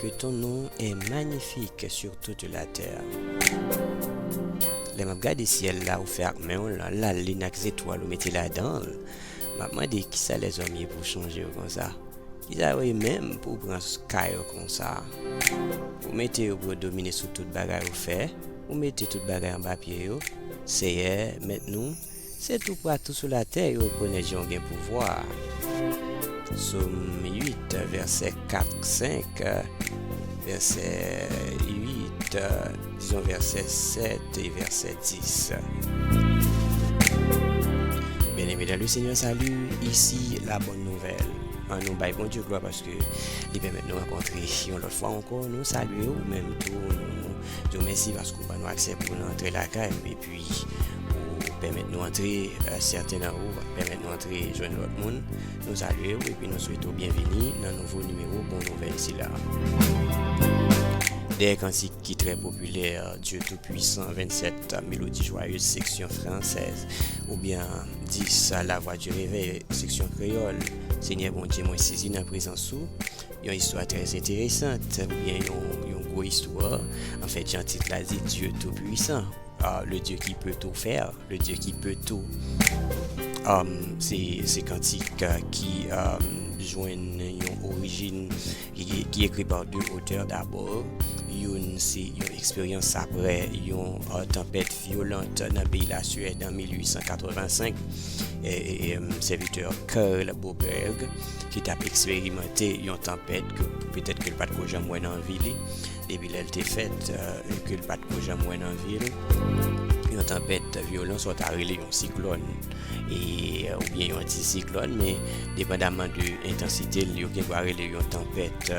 Que ton nom est magnifique sur toute la terre Lè map gade syèl la ou fè ak menw lan la lune ak zetwal ou mete ladanl map mande kisa lèzòm ye pou sonjew konsa kisa yo ye menm pouw pran ka yo konsa ou mete yo pou yo domine sou tout bagay ou fè ou mete tout bagay anba pye yo Seyè mèt nou Se tou patou sou latè yo rekonèt Jan w gen pouvwa. Som 8, vèsè 4, 5, vèsè 8, dizon vèsè 7 e vèsè 10. Byeneme dan Lesenyè, sali, isi labòn nouvèl. An nou bay Bondye glwa paske Li pèmèt nou rankontre yon lòt fwa ankò. Nou salye ou menm tou, nou di w mèsi paske ou ban nou aksè pou w antre lakay nou. Epwi ou pèmèt nou antre, sèten nan ou pèmèt nou antre jwenn lòt moun. Nou salye ou epi nou swete ou byenvini nan nouvo nimewo Bon Nouvèl sila a. Dèyè kantik ki trè popilè Dieu tout puissant 27 Mélodie joyeuse seksyon fransèz oubyen 10 La voix du réveil seksyon kreyòl Senyè Bondye mwen sezi nan prezans ou Yon istwa trè enteresant oubyen yon gwo istwa. Anfèt, jan tit la di, Dieu tout puissant, le Dieu qui peut tout faire, le Dieu qui peut tout. Se kantik ki jwenn yon orijin, ki ekri pa de otè dabò. Youn se yon eksperyans apre yon tanpèt vyolant nan peyi Lasuèd an 1885, sèvitè Carl Boberg. ki t ap eksperimante yon tanpèt ke petèt ke l pa t ko janm wè nan vi li, depi lè l te fèt, ke l pa t ko janm wè nan vi l. Yon tanpèt vyolan sa w ta rele yon siklòn e oubyen yon antisiklòn men depandaman de entansite l, yo gen dwa rele l yon tanpèt,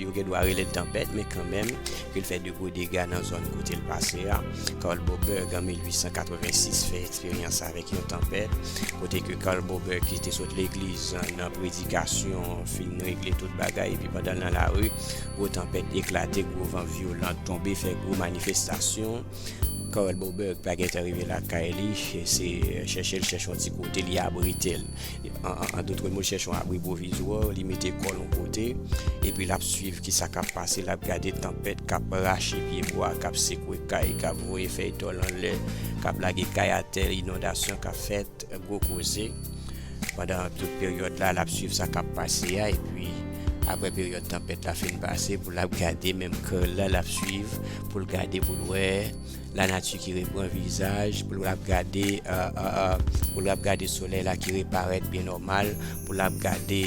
yo gen dwa rele l tanpèt men kanmenm ke l fè de gwo dega nan zòn kote l pase a. Carl Boberg an 1886 fè eksperyans avèk. Yon tanpèt kote ke Carl Bober ki te sot legliz nan predikasyon fin regle tout bagay epi pandan l nan lari gwo tanpèt eklate gwo van vyolan tonbe fè gwo manifestasyon Carl Bober pa gentan rive lakay li se chèche l chèche yon ti kote li abrite l. An dotre mo, chèche yon abri pwovizwa, li mete kò l yon kote, epi l ap suiv ki sa k ap pase, l ap gade tanpèt k ap rache pyebwa, k ap sekwe kay, k ap voye fèy tòl anlè, k ap lage kay atè, inondasyon k ap fèt, gwo koze. Pandan tout peryòd la, l ap suiv sa k ap pase a, epi apre peryòd tanpèt la fin pase, pou l ap gade menm kò l la, l ap suiv pou l gade, pou l wè. la nati ki repran vizaj, pou l ap gade, pou l ap gade solèy la ki reparèt byen nòmal, pou l ap gade,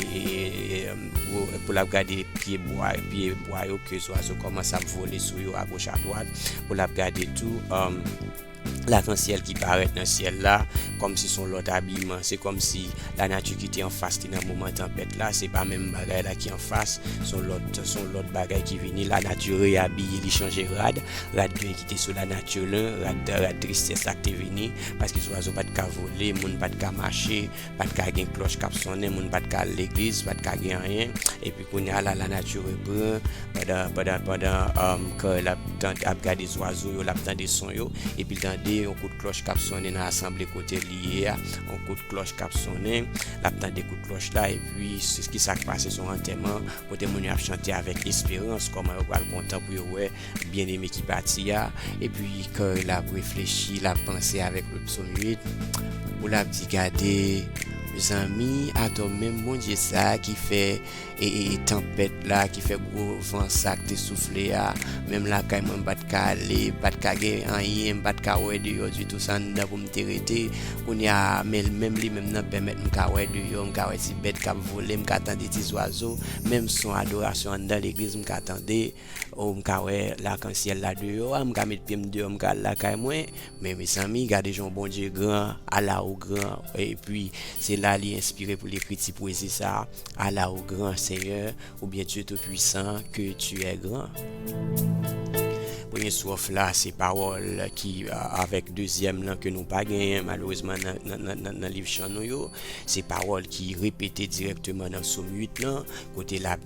pou l ap gade pye bwa, pye bwa yo ke zwazo kòmanse ap vole sou yo agoch adwat, pou l ap gade tou lakansyèl ki parèt nan syèl la kòm si son lòt abiman. Se kòm si la nati ki te anfas li nan moman tanpèt la, se pa menm bagay la ki anfas, son lòt, son lòt bagay ki vini, la nati reyabiye, li chanje rad. Rad gri ki te sou lanati lan, rad tristès la k te vini, paske zwazo pa t ka vole, moun pa t ka mache, pa t ka gen klòch k ap sonnen, moun pa t ka al legliz, pa t ka gen anyen. Epi kounye a la, lanati repran, pandan Carl ap gade zwazo yo, l ap tande son yo, epi l tande yon kout klòch k ap sonnen nan asanble kote li ye a, yon kout klòch k ap sonnen, l ap tande kout klòch la, epi ki sa k pase? S on antèman kote moun yo ap chante avèk esperans kòman yo pral kontan pou yo wè Byen eme ki pati a. Epi ke lap reflechi, lap panse avek le psom 8. Ou lap di gade zanmi ato menm Bondye sa ki fe tanpet la, ki fe gwo van sa ki te soufle a, menm lakay mwen m pat ka ale, m pat ka gen anyen, m pat ka we deyo ditou se anndan pou m te rete. Kounye a menm li menm nan pemet m ka we deyo, m ka we ti bet kap vole, m ka tande ti zwazo, menm son adorasyon anndan legliz m ka tande. Oh m ka wè lakansyèl la deyò a m ka met pyem deyò m ka al lakay mwen men mezanmi gade jan Bondye gran ala ou gran epi se la li enspire pou l ekri ti pwezi sa ala ou gran senyè oubyen Dye tou pwisan ke tu è gran. Premye stròf la se pawòl ki avèk dezyèm lan ke nou pa genyen malerezman nan liv chan nou yo se pawòl ki repete dirèkteman nan som 8 lan kote l ap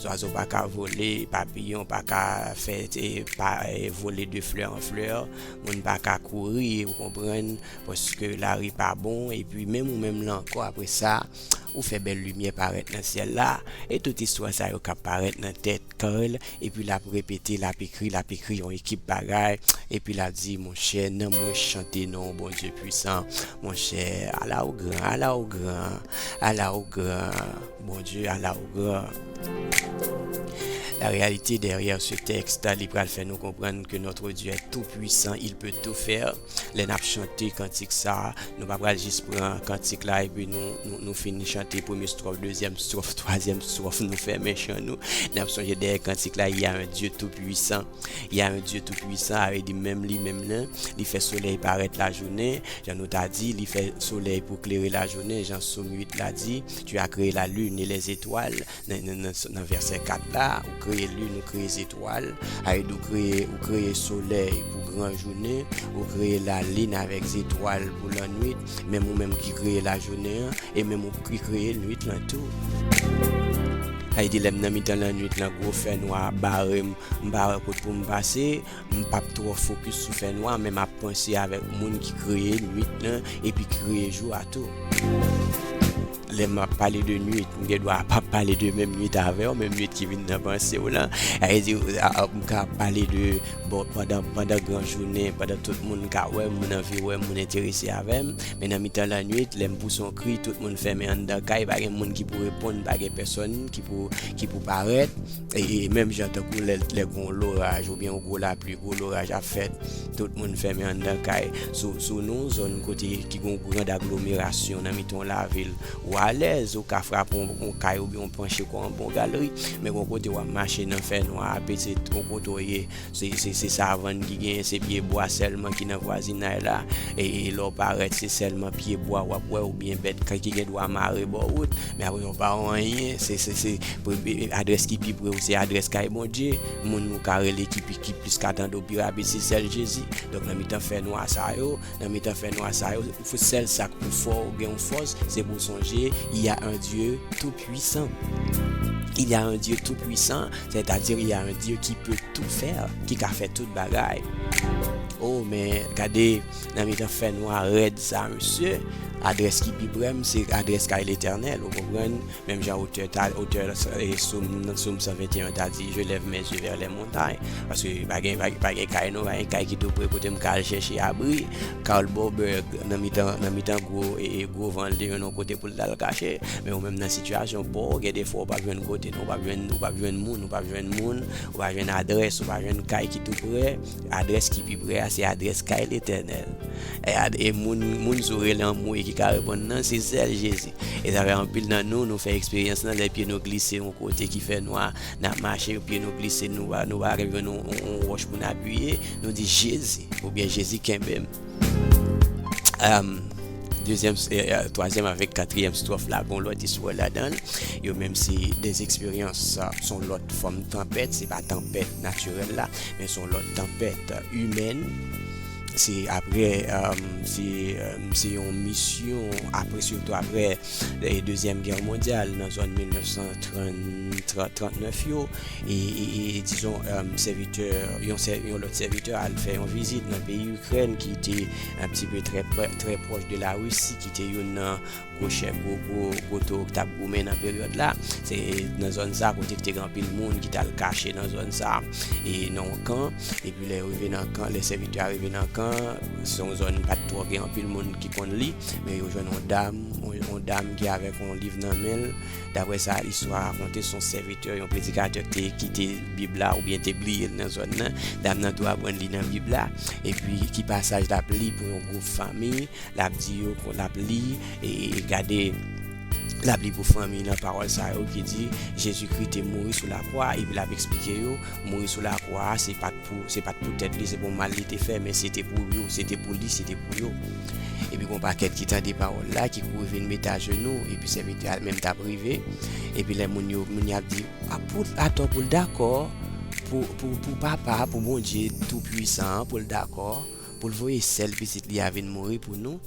Zwazo pa ka vole, papiyon pa ka fè vole de flè an flè, moun pa ka kouri ou konprann, paske lari pa bon, epi menm ou menm lan ankò apre sa, ou fè bèl limyè parèt nan syèl la, e tout istwa sa yo k ap parèt nan tèt Carl, epi l ap repete, l ap ekri, l ap ekri yon ekip bagay, epi l ap di, monchè, nanm mwen chante non w Bondye pwisan, monchè, ala ou gran, ala ou gran, ala ou gran. Bondye ala ou gran. La réalité derrière ce texte li pral fè nou konprann ke notre Dieu est tout puissant, il peut tout faire. Lè nap chante kantik sa, nou pa pral jis pran kantik la epi nou fin chante premye stròf, dezyèm stròf, twazyèm stròf, nou fèmen chan nou. Nap sonje dèyè kantik la, il y a un Dieu tout puissant. Il y a un Dieu tout puissant a vle di menm li menm nan, li fè solèy parèt lajounen, jan nou ta di, li fè solèy pou klere lajounen, jan Som 8 la di. Tu as kreye la lune e lè zetwal nan vèsè 4 la ou kreye lune ou kreye zetwal aid ou kreye ou kreye solèy pou gran jounen ou kreye la lin avèk zetwal pou lannwit menm ou menm ki kreye la jounen an e menm ou ki kreye nwit lan tou aid lèm nan mitan lannwit lan gwo fènwa ap barem m pa wè kot poum pase M p ap twò fokis sou fènwa men m ap panse avèk moun ki kreye nuit lan epi ki kreye jou a tou. Lè m ap pale de nuit, m gen dwa pa ap pale de menm nuit avè w, menm nuit ki vin nan panse w lan. Sa vle di, m ka ap pale de bon pandan gran jounen, pandan tout moun ka wè m, moun anvi wè m, moun enterese avè m. Men nan mitan lannuit, lè m pouse yon kri, tout moun fèmen anndan kay, pa gen moun ki pou reponn, pa gen pèsonn ki pou parèt. E menm jan tankou lè lè gwo loraj oubyen yon gwo lapli, gwo loraj ap fèt, tout moun fèmen anndan kay. Sou sou nou yon zòn kote ki gwo grand aglomerasyon nan mitan yon lavil, ou alèz, ou ka frape yon yon kay oubyen ou panche kò anba yon galri. Men gwo kote wap mache nan fè nwa a, pitit yon kote w ye, Se savann ki genyen se pye bwa sèlman ki nan vwazinay la e lè w parèt se sèlman pye bwa w ap wè oubyen bèt ki gen dwa mare bò wout men apre sa w pa wè anyen adrès ki pi pre w se adrès kay Bondye moun ou ka rele ki plis ka tande w pi rapid se sèl Jezi donk nan mitan fènwa sa yo Nan mitan fè nwa sa yo, sèl sa k pou fè w gen yon fòs, se pou w sonje, il y a un Dieu tout puissant. Il y a un Dieu tout puissant, sètadi il y a un Dieu qui peut tout faire, ki ka fè tout bagay. O, men, gade, nan mitan fè nwa rèd sa, mesye, adrès ki pi prè m, se adrès kay Letènèl, ou konprann? Menm jan otè ta, otè Soum 121 an ta di, je lève mes yeux vers les montagnes. Paske pa gen, pa gen kay nou, pa gen kay ki tou pre kote m ka al chèche abri. Karl Boberg nan mitan, nan mitan gwo, e, e gwo van l te jwenn yon kote pou l t al kache. Men ou menm nan sitiyasyon pa w, gen de fwa ou pa p jwenn kote nou, ou pa p jwenn, ou pa p jwenn moun, ou pa p jwenn moun, ou pa jwenn adrès, ou pa jwenn kay ki tou pre. Adrès ki pi pre a, se adrès kay Letènèl. E, e moun, moun sou rele anmwey ki ka reponn nan, se sèl Jezi. E sa fè anpil nan nou, nou fè eksperyans lan, lè pye nou glise yon kote ki fè nwa, n ap mache, pye nou glise, nou pa ka jwenn yon wòch pou n apiye, nou di Jezi, oubyen Jezi kenbe m. Twazyèm avèk katriyèm stròf la gen yon lòt istwa ladan l, yo menm se de eksperyans, se yon lòt fòm tanpèt, se pa tanpèt natirèl la, men se yon lòt tanpèt imèn. Se apre se se yon misyon apre sitou apre dezyèm gè mondyal nan zòn 1939 yo e dizon sèvitè yon yon lòt sèvitè al fè yon vizit nan peyi Ikrèn ki te ap ti pe trè pròch de la Risi ki te yon nan Gwo chè, gwo gwo, gwo to ki t ap goumen nan peryòd la. Se nan zòn sa kote ki te gen anpil moun ki t al kache nan zòn sa e nan yon kan. Epi lè yo rive nan kan, lè sèvitè a rive nan kan, se yon zòn pa t twò gen anpil moun ki konn li. Men yo jwenn yon dam, yon dam ki avèk yon liv nan men l. Daprè sa istwa a rakonte, se yon sèvitè, yon predikatè ki te kite Bib la oubyen te bliye l nan zòn nan. Dam nan tou aprann li nan Bib la. Epi ki pasaj l ap li pou yon gwoup fanmi. Lap di yo pou lap li e gade lap li pou fanmi nan pawòl sa yo ki di Jezikri te mouri sou lakwa epi lap eksplike yo mouri sou lakwa a se pat pou se pat pou tèt li se pou mal li te fè men se te pou yo se te pou li se te pou yo epi gon pakèt ki tande pawòl la ki kouri vin mete ajenou epi sèvitè a menm tap rive epi lè moun yo moun yap di pou atò poul dakò pou pou pou papa pou Bondye tou pwisan an poul dakò. pou l voye sèl Pitit li a vin mouri pou nou.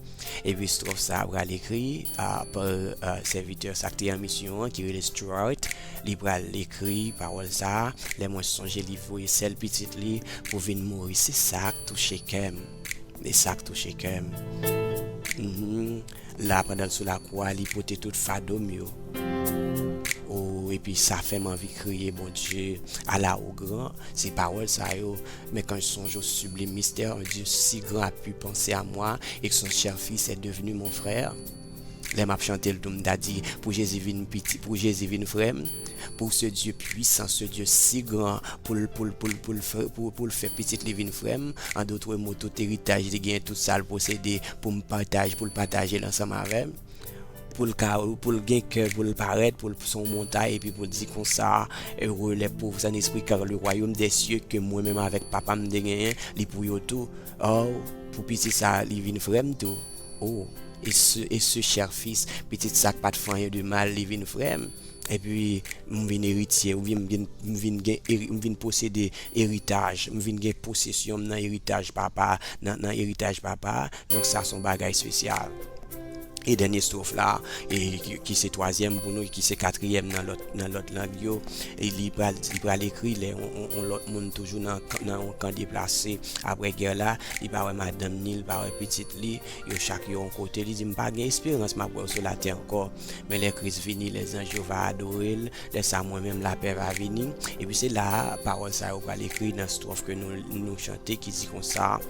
Epi estròf sa a pral ekri pa sèvitè sa k te an misyon an ki rele Stuart. Li pral ekri pawòl sa a, Lè mwen sonje li voye sèl Pitit li pou vin mouri, se sa k touche kè m. Se sa k touche kè m. La a pandan l sou lakou a, li pote tout fado m yo. O, epi sa fè m anvi kriye, Bondye, ala ou gran! Se pawòl sa yo. Mais quand je songe au sublime mystère Un Dieu si grand a pu penser à moi Et que son cher fils est devenu mon frère Lè map chante l tou m ta di Pou Jezi vin piti, pou Jezi vin frè m Pou ce Dieu puissant, ce Dieu si grand Pou l, pou l, pou l, pou l, pou l fè pitit li vin frè m En d'autres mots tout héritage li gen, tout sa l posede Pou m pataj, pou l pataje l ansanm avè m. pou l ka pou l gen kè pou l parèt pou l son montay epi pou l di konsa ere lè pov san espri kar le wayom dè sye ke mwen menm avèk papa m te genyen li pou yo tou o pou piti sa li vin frè m tou o e se e se chè fis pitit sa k pa t fè anyen de mal li vin frè m epi m vin eritye ou vin gen m vin gen m vin posede eritaj m vin gen posesyon m nan eritaj papa nan nan eritaj papa Donk sa son bagay spesyal. E dènye stwof la, e ki se twazyèm pou nou, e ki se katriyèm nan lòt nan lòt lang yo, e li pral li pral ekri lè on on on lòt moun toujou nan kan nan on kan deplase aprè gè la, li pa wè madanm ni li pa wè pitit li, yo chak yo on kote, li di, m pa gen esperans m ap wè w sou latè ankò, men lè Kris vini, lè zanj yo va adore l, lè sa mwen menm lapè va vini. Epi se la a pawòl sa yo pral ekri nan stwòf ke nou nou chante ki di konsa.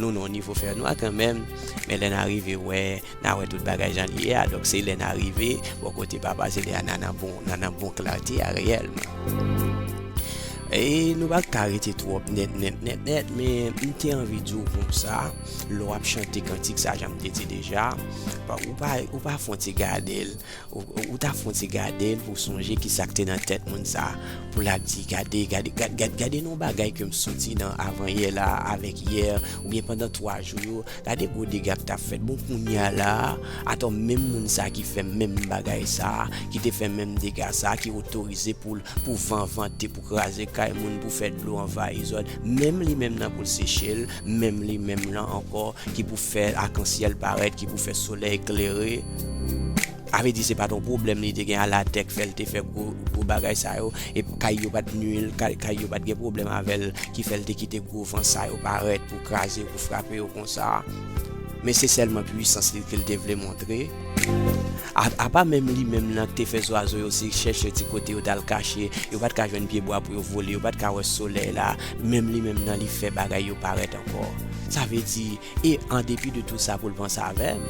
Nou nan yon nivo fè nwa kanmenm, men lè n arive wè, n a wè tout bagay jan li ye a. Donk se lè n arive bò kote Papa a, se lè a n a nan bon, n a nan bon klate a reyèlman. E nou pa ka rete twòp nèt nèt nèt nèt, men m te anvi di w konsa, lè w ap chante kantik sa a, jan m te di deja, ou pa fon ti gade l. Ou ta fon ti gadel pou sonje kisa ki te nan tèt moun sa pou la di gade gade yon bagay ke m soti nan avan yè la avèk yè ou byen pandan 3 jou yo gade gwo dega ki ta fèt bon kounya la atò menm moun sa ki fè menm bagay sa ki te fè menm dega sa ki otorize poul pou van vante pou kraze kay moun pou fè dlo anvayi zòn menm li menm nan poul sechel Menm li menm lan ankò ki pou fè akansyèl parèt, ki pou fè solèy klere. Avè di se pa t yon pwoblèm li te gen a latè k fè l te fè gwo bagay sa yo. E kay yo pa t nui l, kay yo pa t gen pwoblèm avè l ki fè l te kite gwo van sa yo parèt pou kraze yo, pou frape yo konsa. Men se sèlman puisans li ke l te vle montre. Apa menm li menm lan k te fè zwazo yo se chèche ti kote yo t al kache, yo pa t ka jwenn pyebwa pou yo vole, yo pa t ka wè solèy la. Menm li menm nan li fè bagay yo parèt ankò. Sa vle di, E an depi de tou sa pou l panse avè m?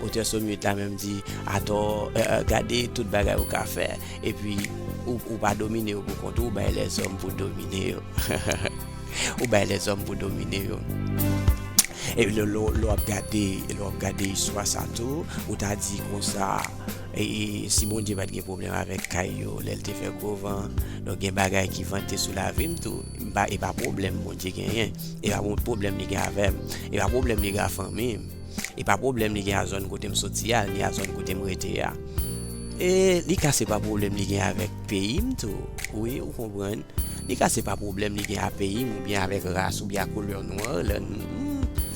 Otè Som 8 la menm di, Atò, gade tout bagay ou ka fè, epi, ou pa domine yo poukont ou, ou bay lèzòm pou domine yo. Ou bay lèzòm pou domine yo. E lè w ap gade istwa sa tou, ou ta di konsa, E si Bondye pat gen pwoblèm avèk kay yo lèl te fè gwo van, donk gen bagay ki vante sou lavim tou, e pa pwoblèm Bondye genyen, e pa pwoblèm li gen avèm, e pa pwoblèm li gen a fanmim, e pa pwoblèm li gen a zòn kotem soti a, ni a zòn kotem rete a. E li ka se pa pwoblèm li gen avèk peyim tou wi ou konprann, li ka se pa pwoblèm li gen a peyim oubyen avèk ras oubyen a koulè nwar lèm,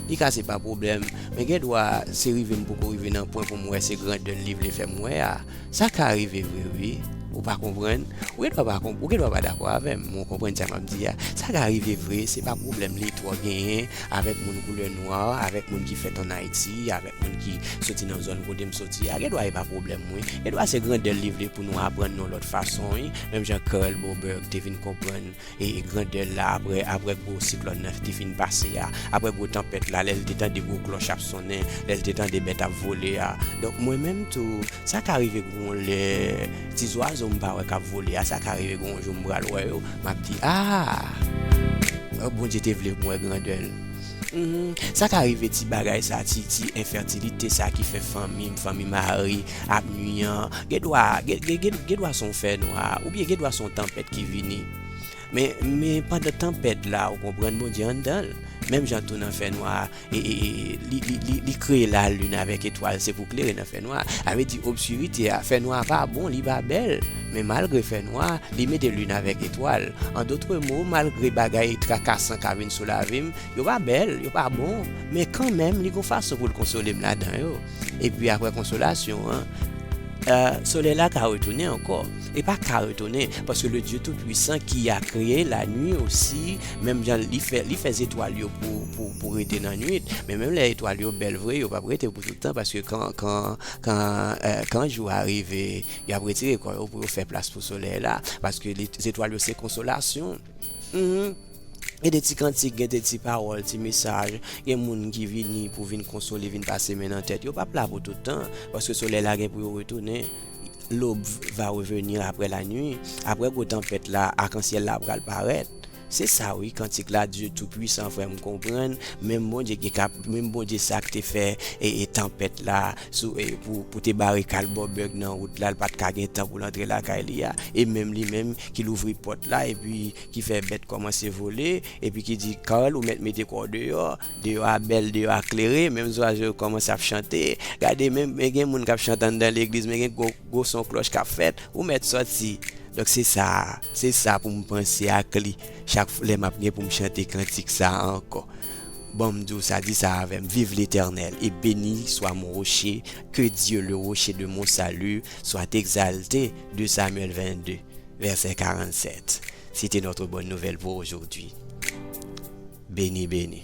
li ka se pa pwoblèm Men gen dwa se rive m poko rive nan pwen pou m wè se grandè l li vle fè m wè a. Sa ka rive vre wi. Ou pa konprann? Ou gen dwa pa konprann, ou gen dwa pa dakò avè m, men w konprann sa m ap di a. Sa ka rive vre, se pa pwoblèm li twò genyen avèk moun koulè nwa, avèk moun ki fèt ann Ayiti, avèk moun ki soti nan zòn kote m soti a. Gen dwa e pa pwoblèm mwen. Gen dwa se grandè l li vle pou nou aprann yon lòt fason wi, menm jan Karel Boberg te vin konprann. E grandè l la apre, apre gwo siklòn nan te fin pase a, apre gwo tanpèt la, lè l te tande gwo klòch ap sonnen, lè l te tande bèt ap vole a. Donk, mwen menm tou, sa ka rive gon lè, ti zwazo m pa wè k ap vole a, sa ka rive gon jou m pral wè yo, m ap di, A! Bondye te vle pou m wè grandè l. Mph sa ka rive ti bagay sa ti ti enfertilite sa ki fè fanmi fanmi mari ap nwi an gen dwa gen dwa son fè nwa ou byen gen dwa son tanpèt ki vini men men pandan tanpèt la ou konprann bondye anndanl menm jan tou nan fè nwa e e e li li li li kreye la lune avèk etwal se pou klere nan fè nwa a avè di obskurite a fè nwa pa bon li pa bèl. Men malgre fè nwa, li mete lin avèk etwal. An dotre mo, malgre bagay trakasan ka vin sou lavi m, yo pa bèl, yo pa bon, men kanmenm li gon fason pou l konsole m ladan yo. Epi apre konsolasyon an, solèy la ka retounen ankò. Li pa ka retounen, paske Ledye Toupuisan ki a kreye lanui osi, menm jan li fè li fè zetwal yo pou rete nan nuit, men menm lè etwal yo bèl vre, yo p ap rete pou tout tan, paske kan jou a rive, Y ap retire kò yo pou yo fè plas pou solèy la, paske zetwal yo se konsolasyon. Hum. Gen de ti kantik, gen de ti pawòl, ti mesaj, gen moun ki vini pou vin konsole, vin pase men nan tèt. Yo p ap la pou tout tan, paske solèy la gen pou yo retounen. L'aube va revenir après la nuit. Aprè gwo tanpèt la, akansyèl la pral parèt. Se sa wi kantik la Dieu tout puissant frè m konprann menm Bondye ki kap menm Bondye sa k te fè ee tanpèt la sou ee pou te bare kal bò bèg nan wout la l pat ka gen tan pou l antre lakay li a e menm li menm ki louvri pòt la epi ki fè bèt kòmanse vole epi ki di Carl ou mèt mete kò w deyò deyò a bèl deyò a klere menm zwazo yo kòmanse ap chante gade menm men gen moun kap chante anndan legliz men gen gwo gwo son klòch kap fèt ou mèt sòti donk se sa. Se sa pou m panse ak li chak fw lè map gen pou m chante kantik sa ankò bon m di w sa di sa avè m viv letènèl e beni swa mon roche ke Dye le roche de mon salut soit exalte 2 Samuel 22 vèsè 47 sete notre bonne nouvelle pour aujourd'hui beni beni.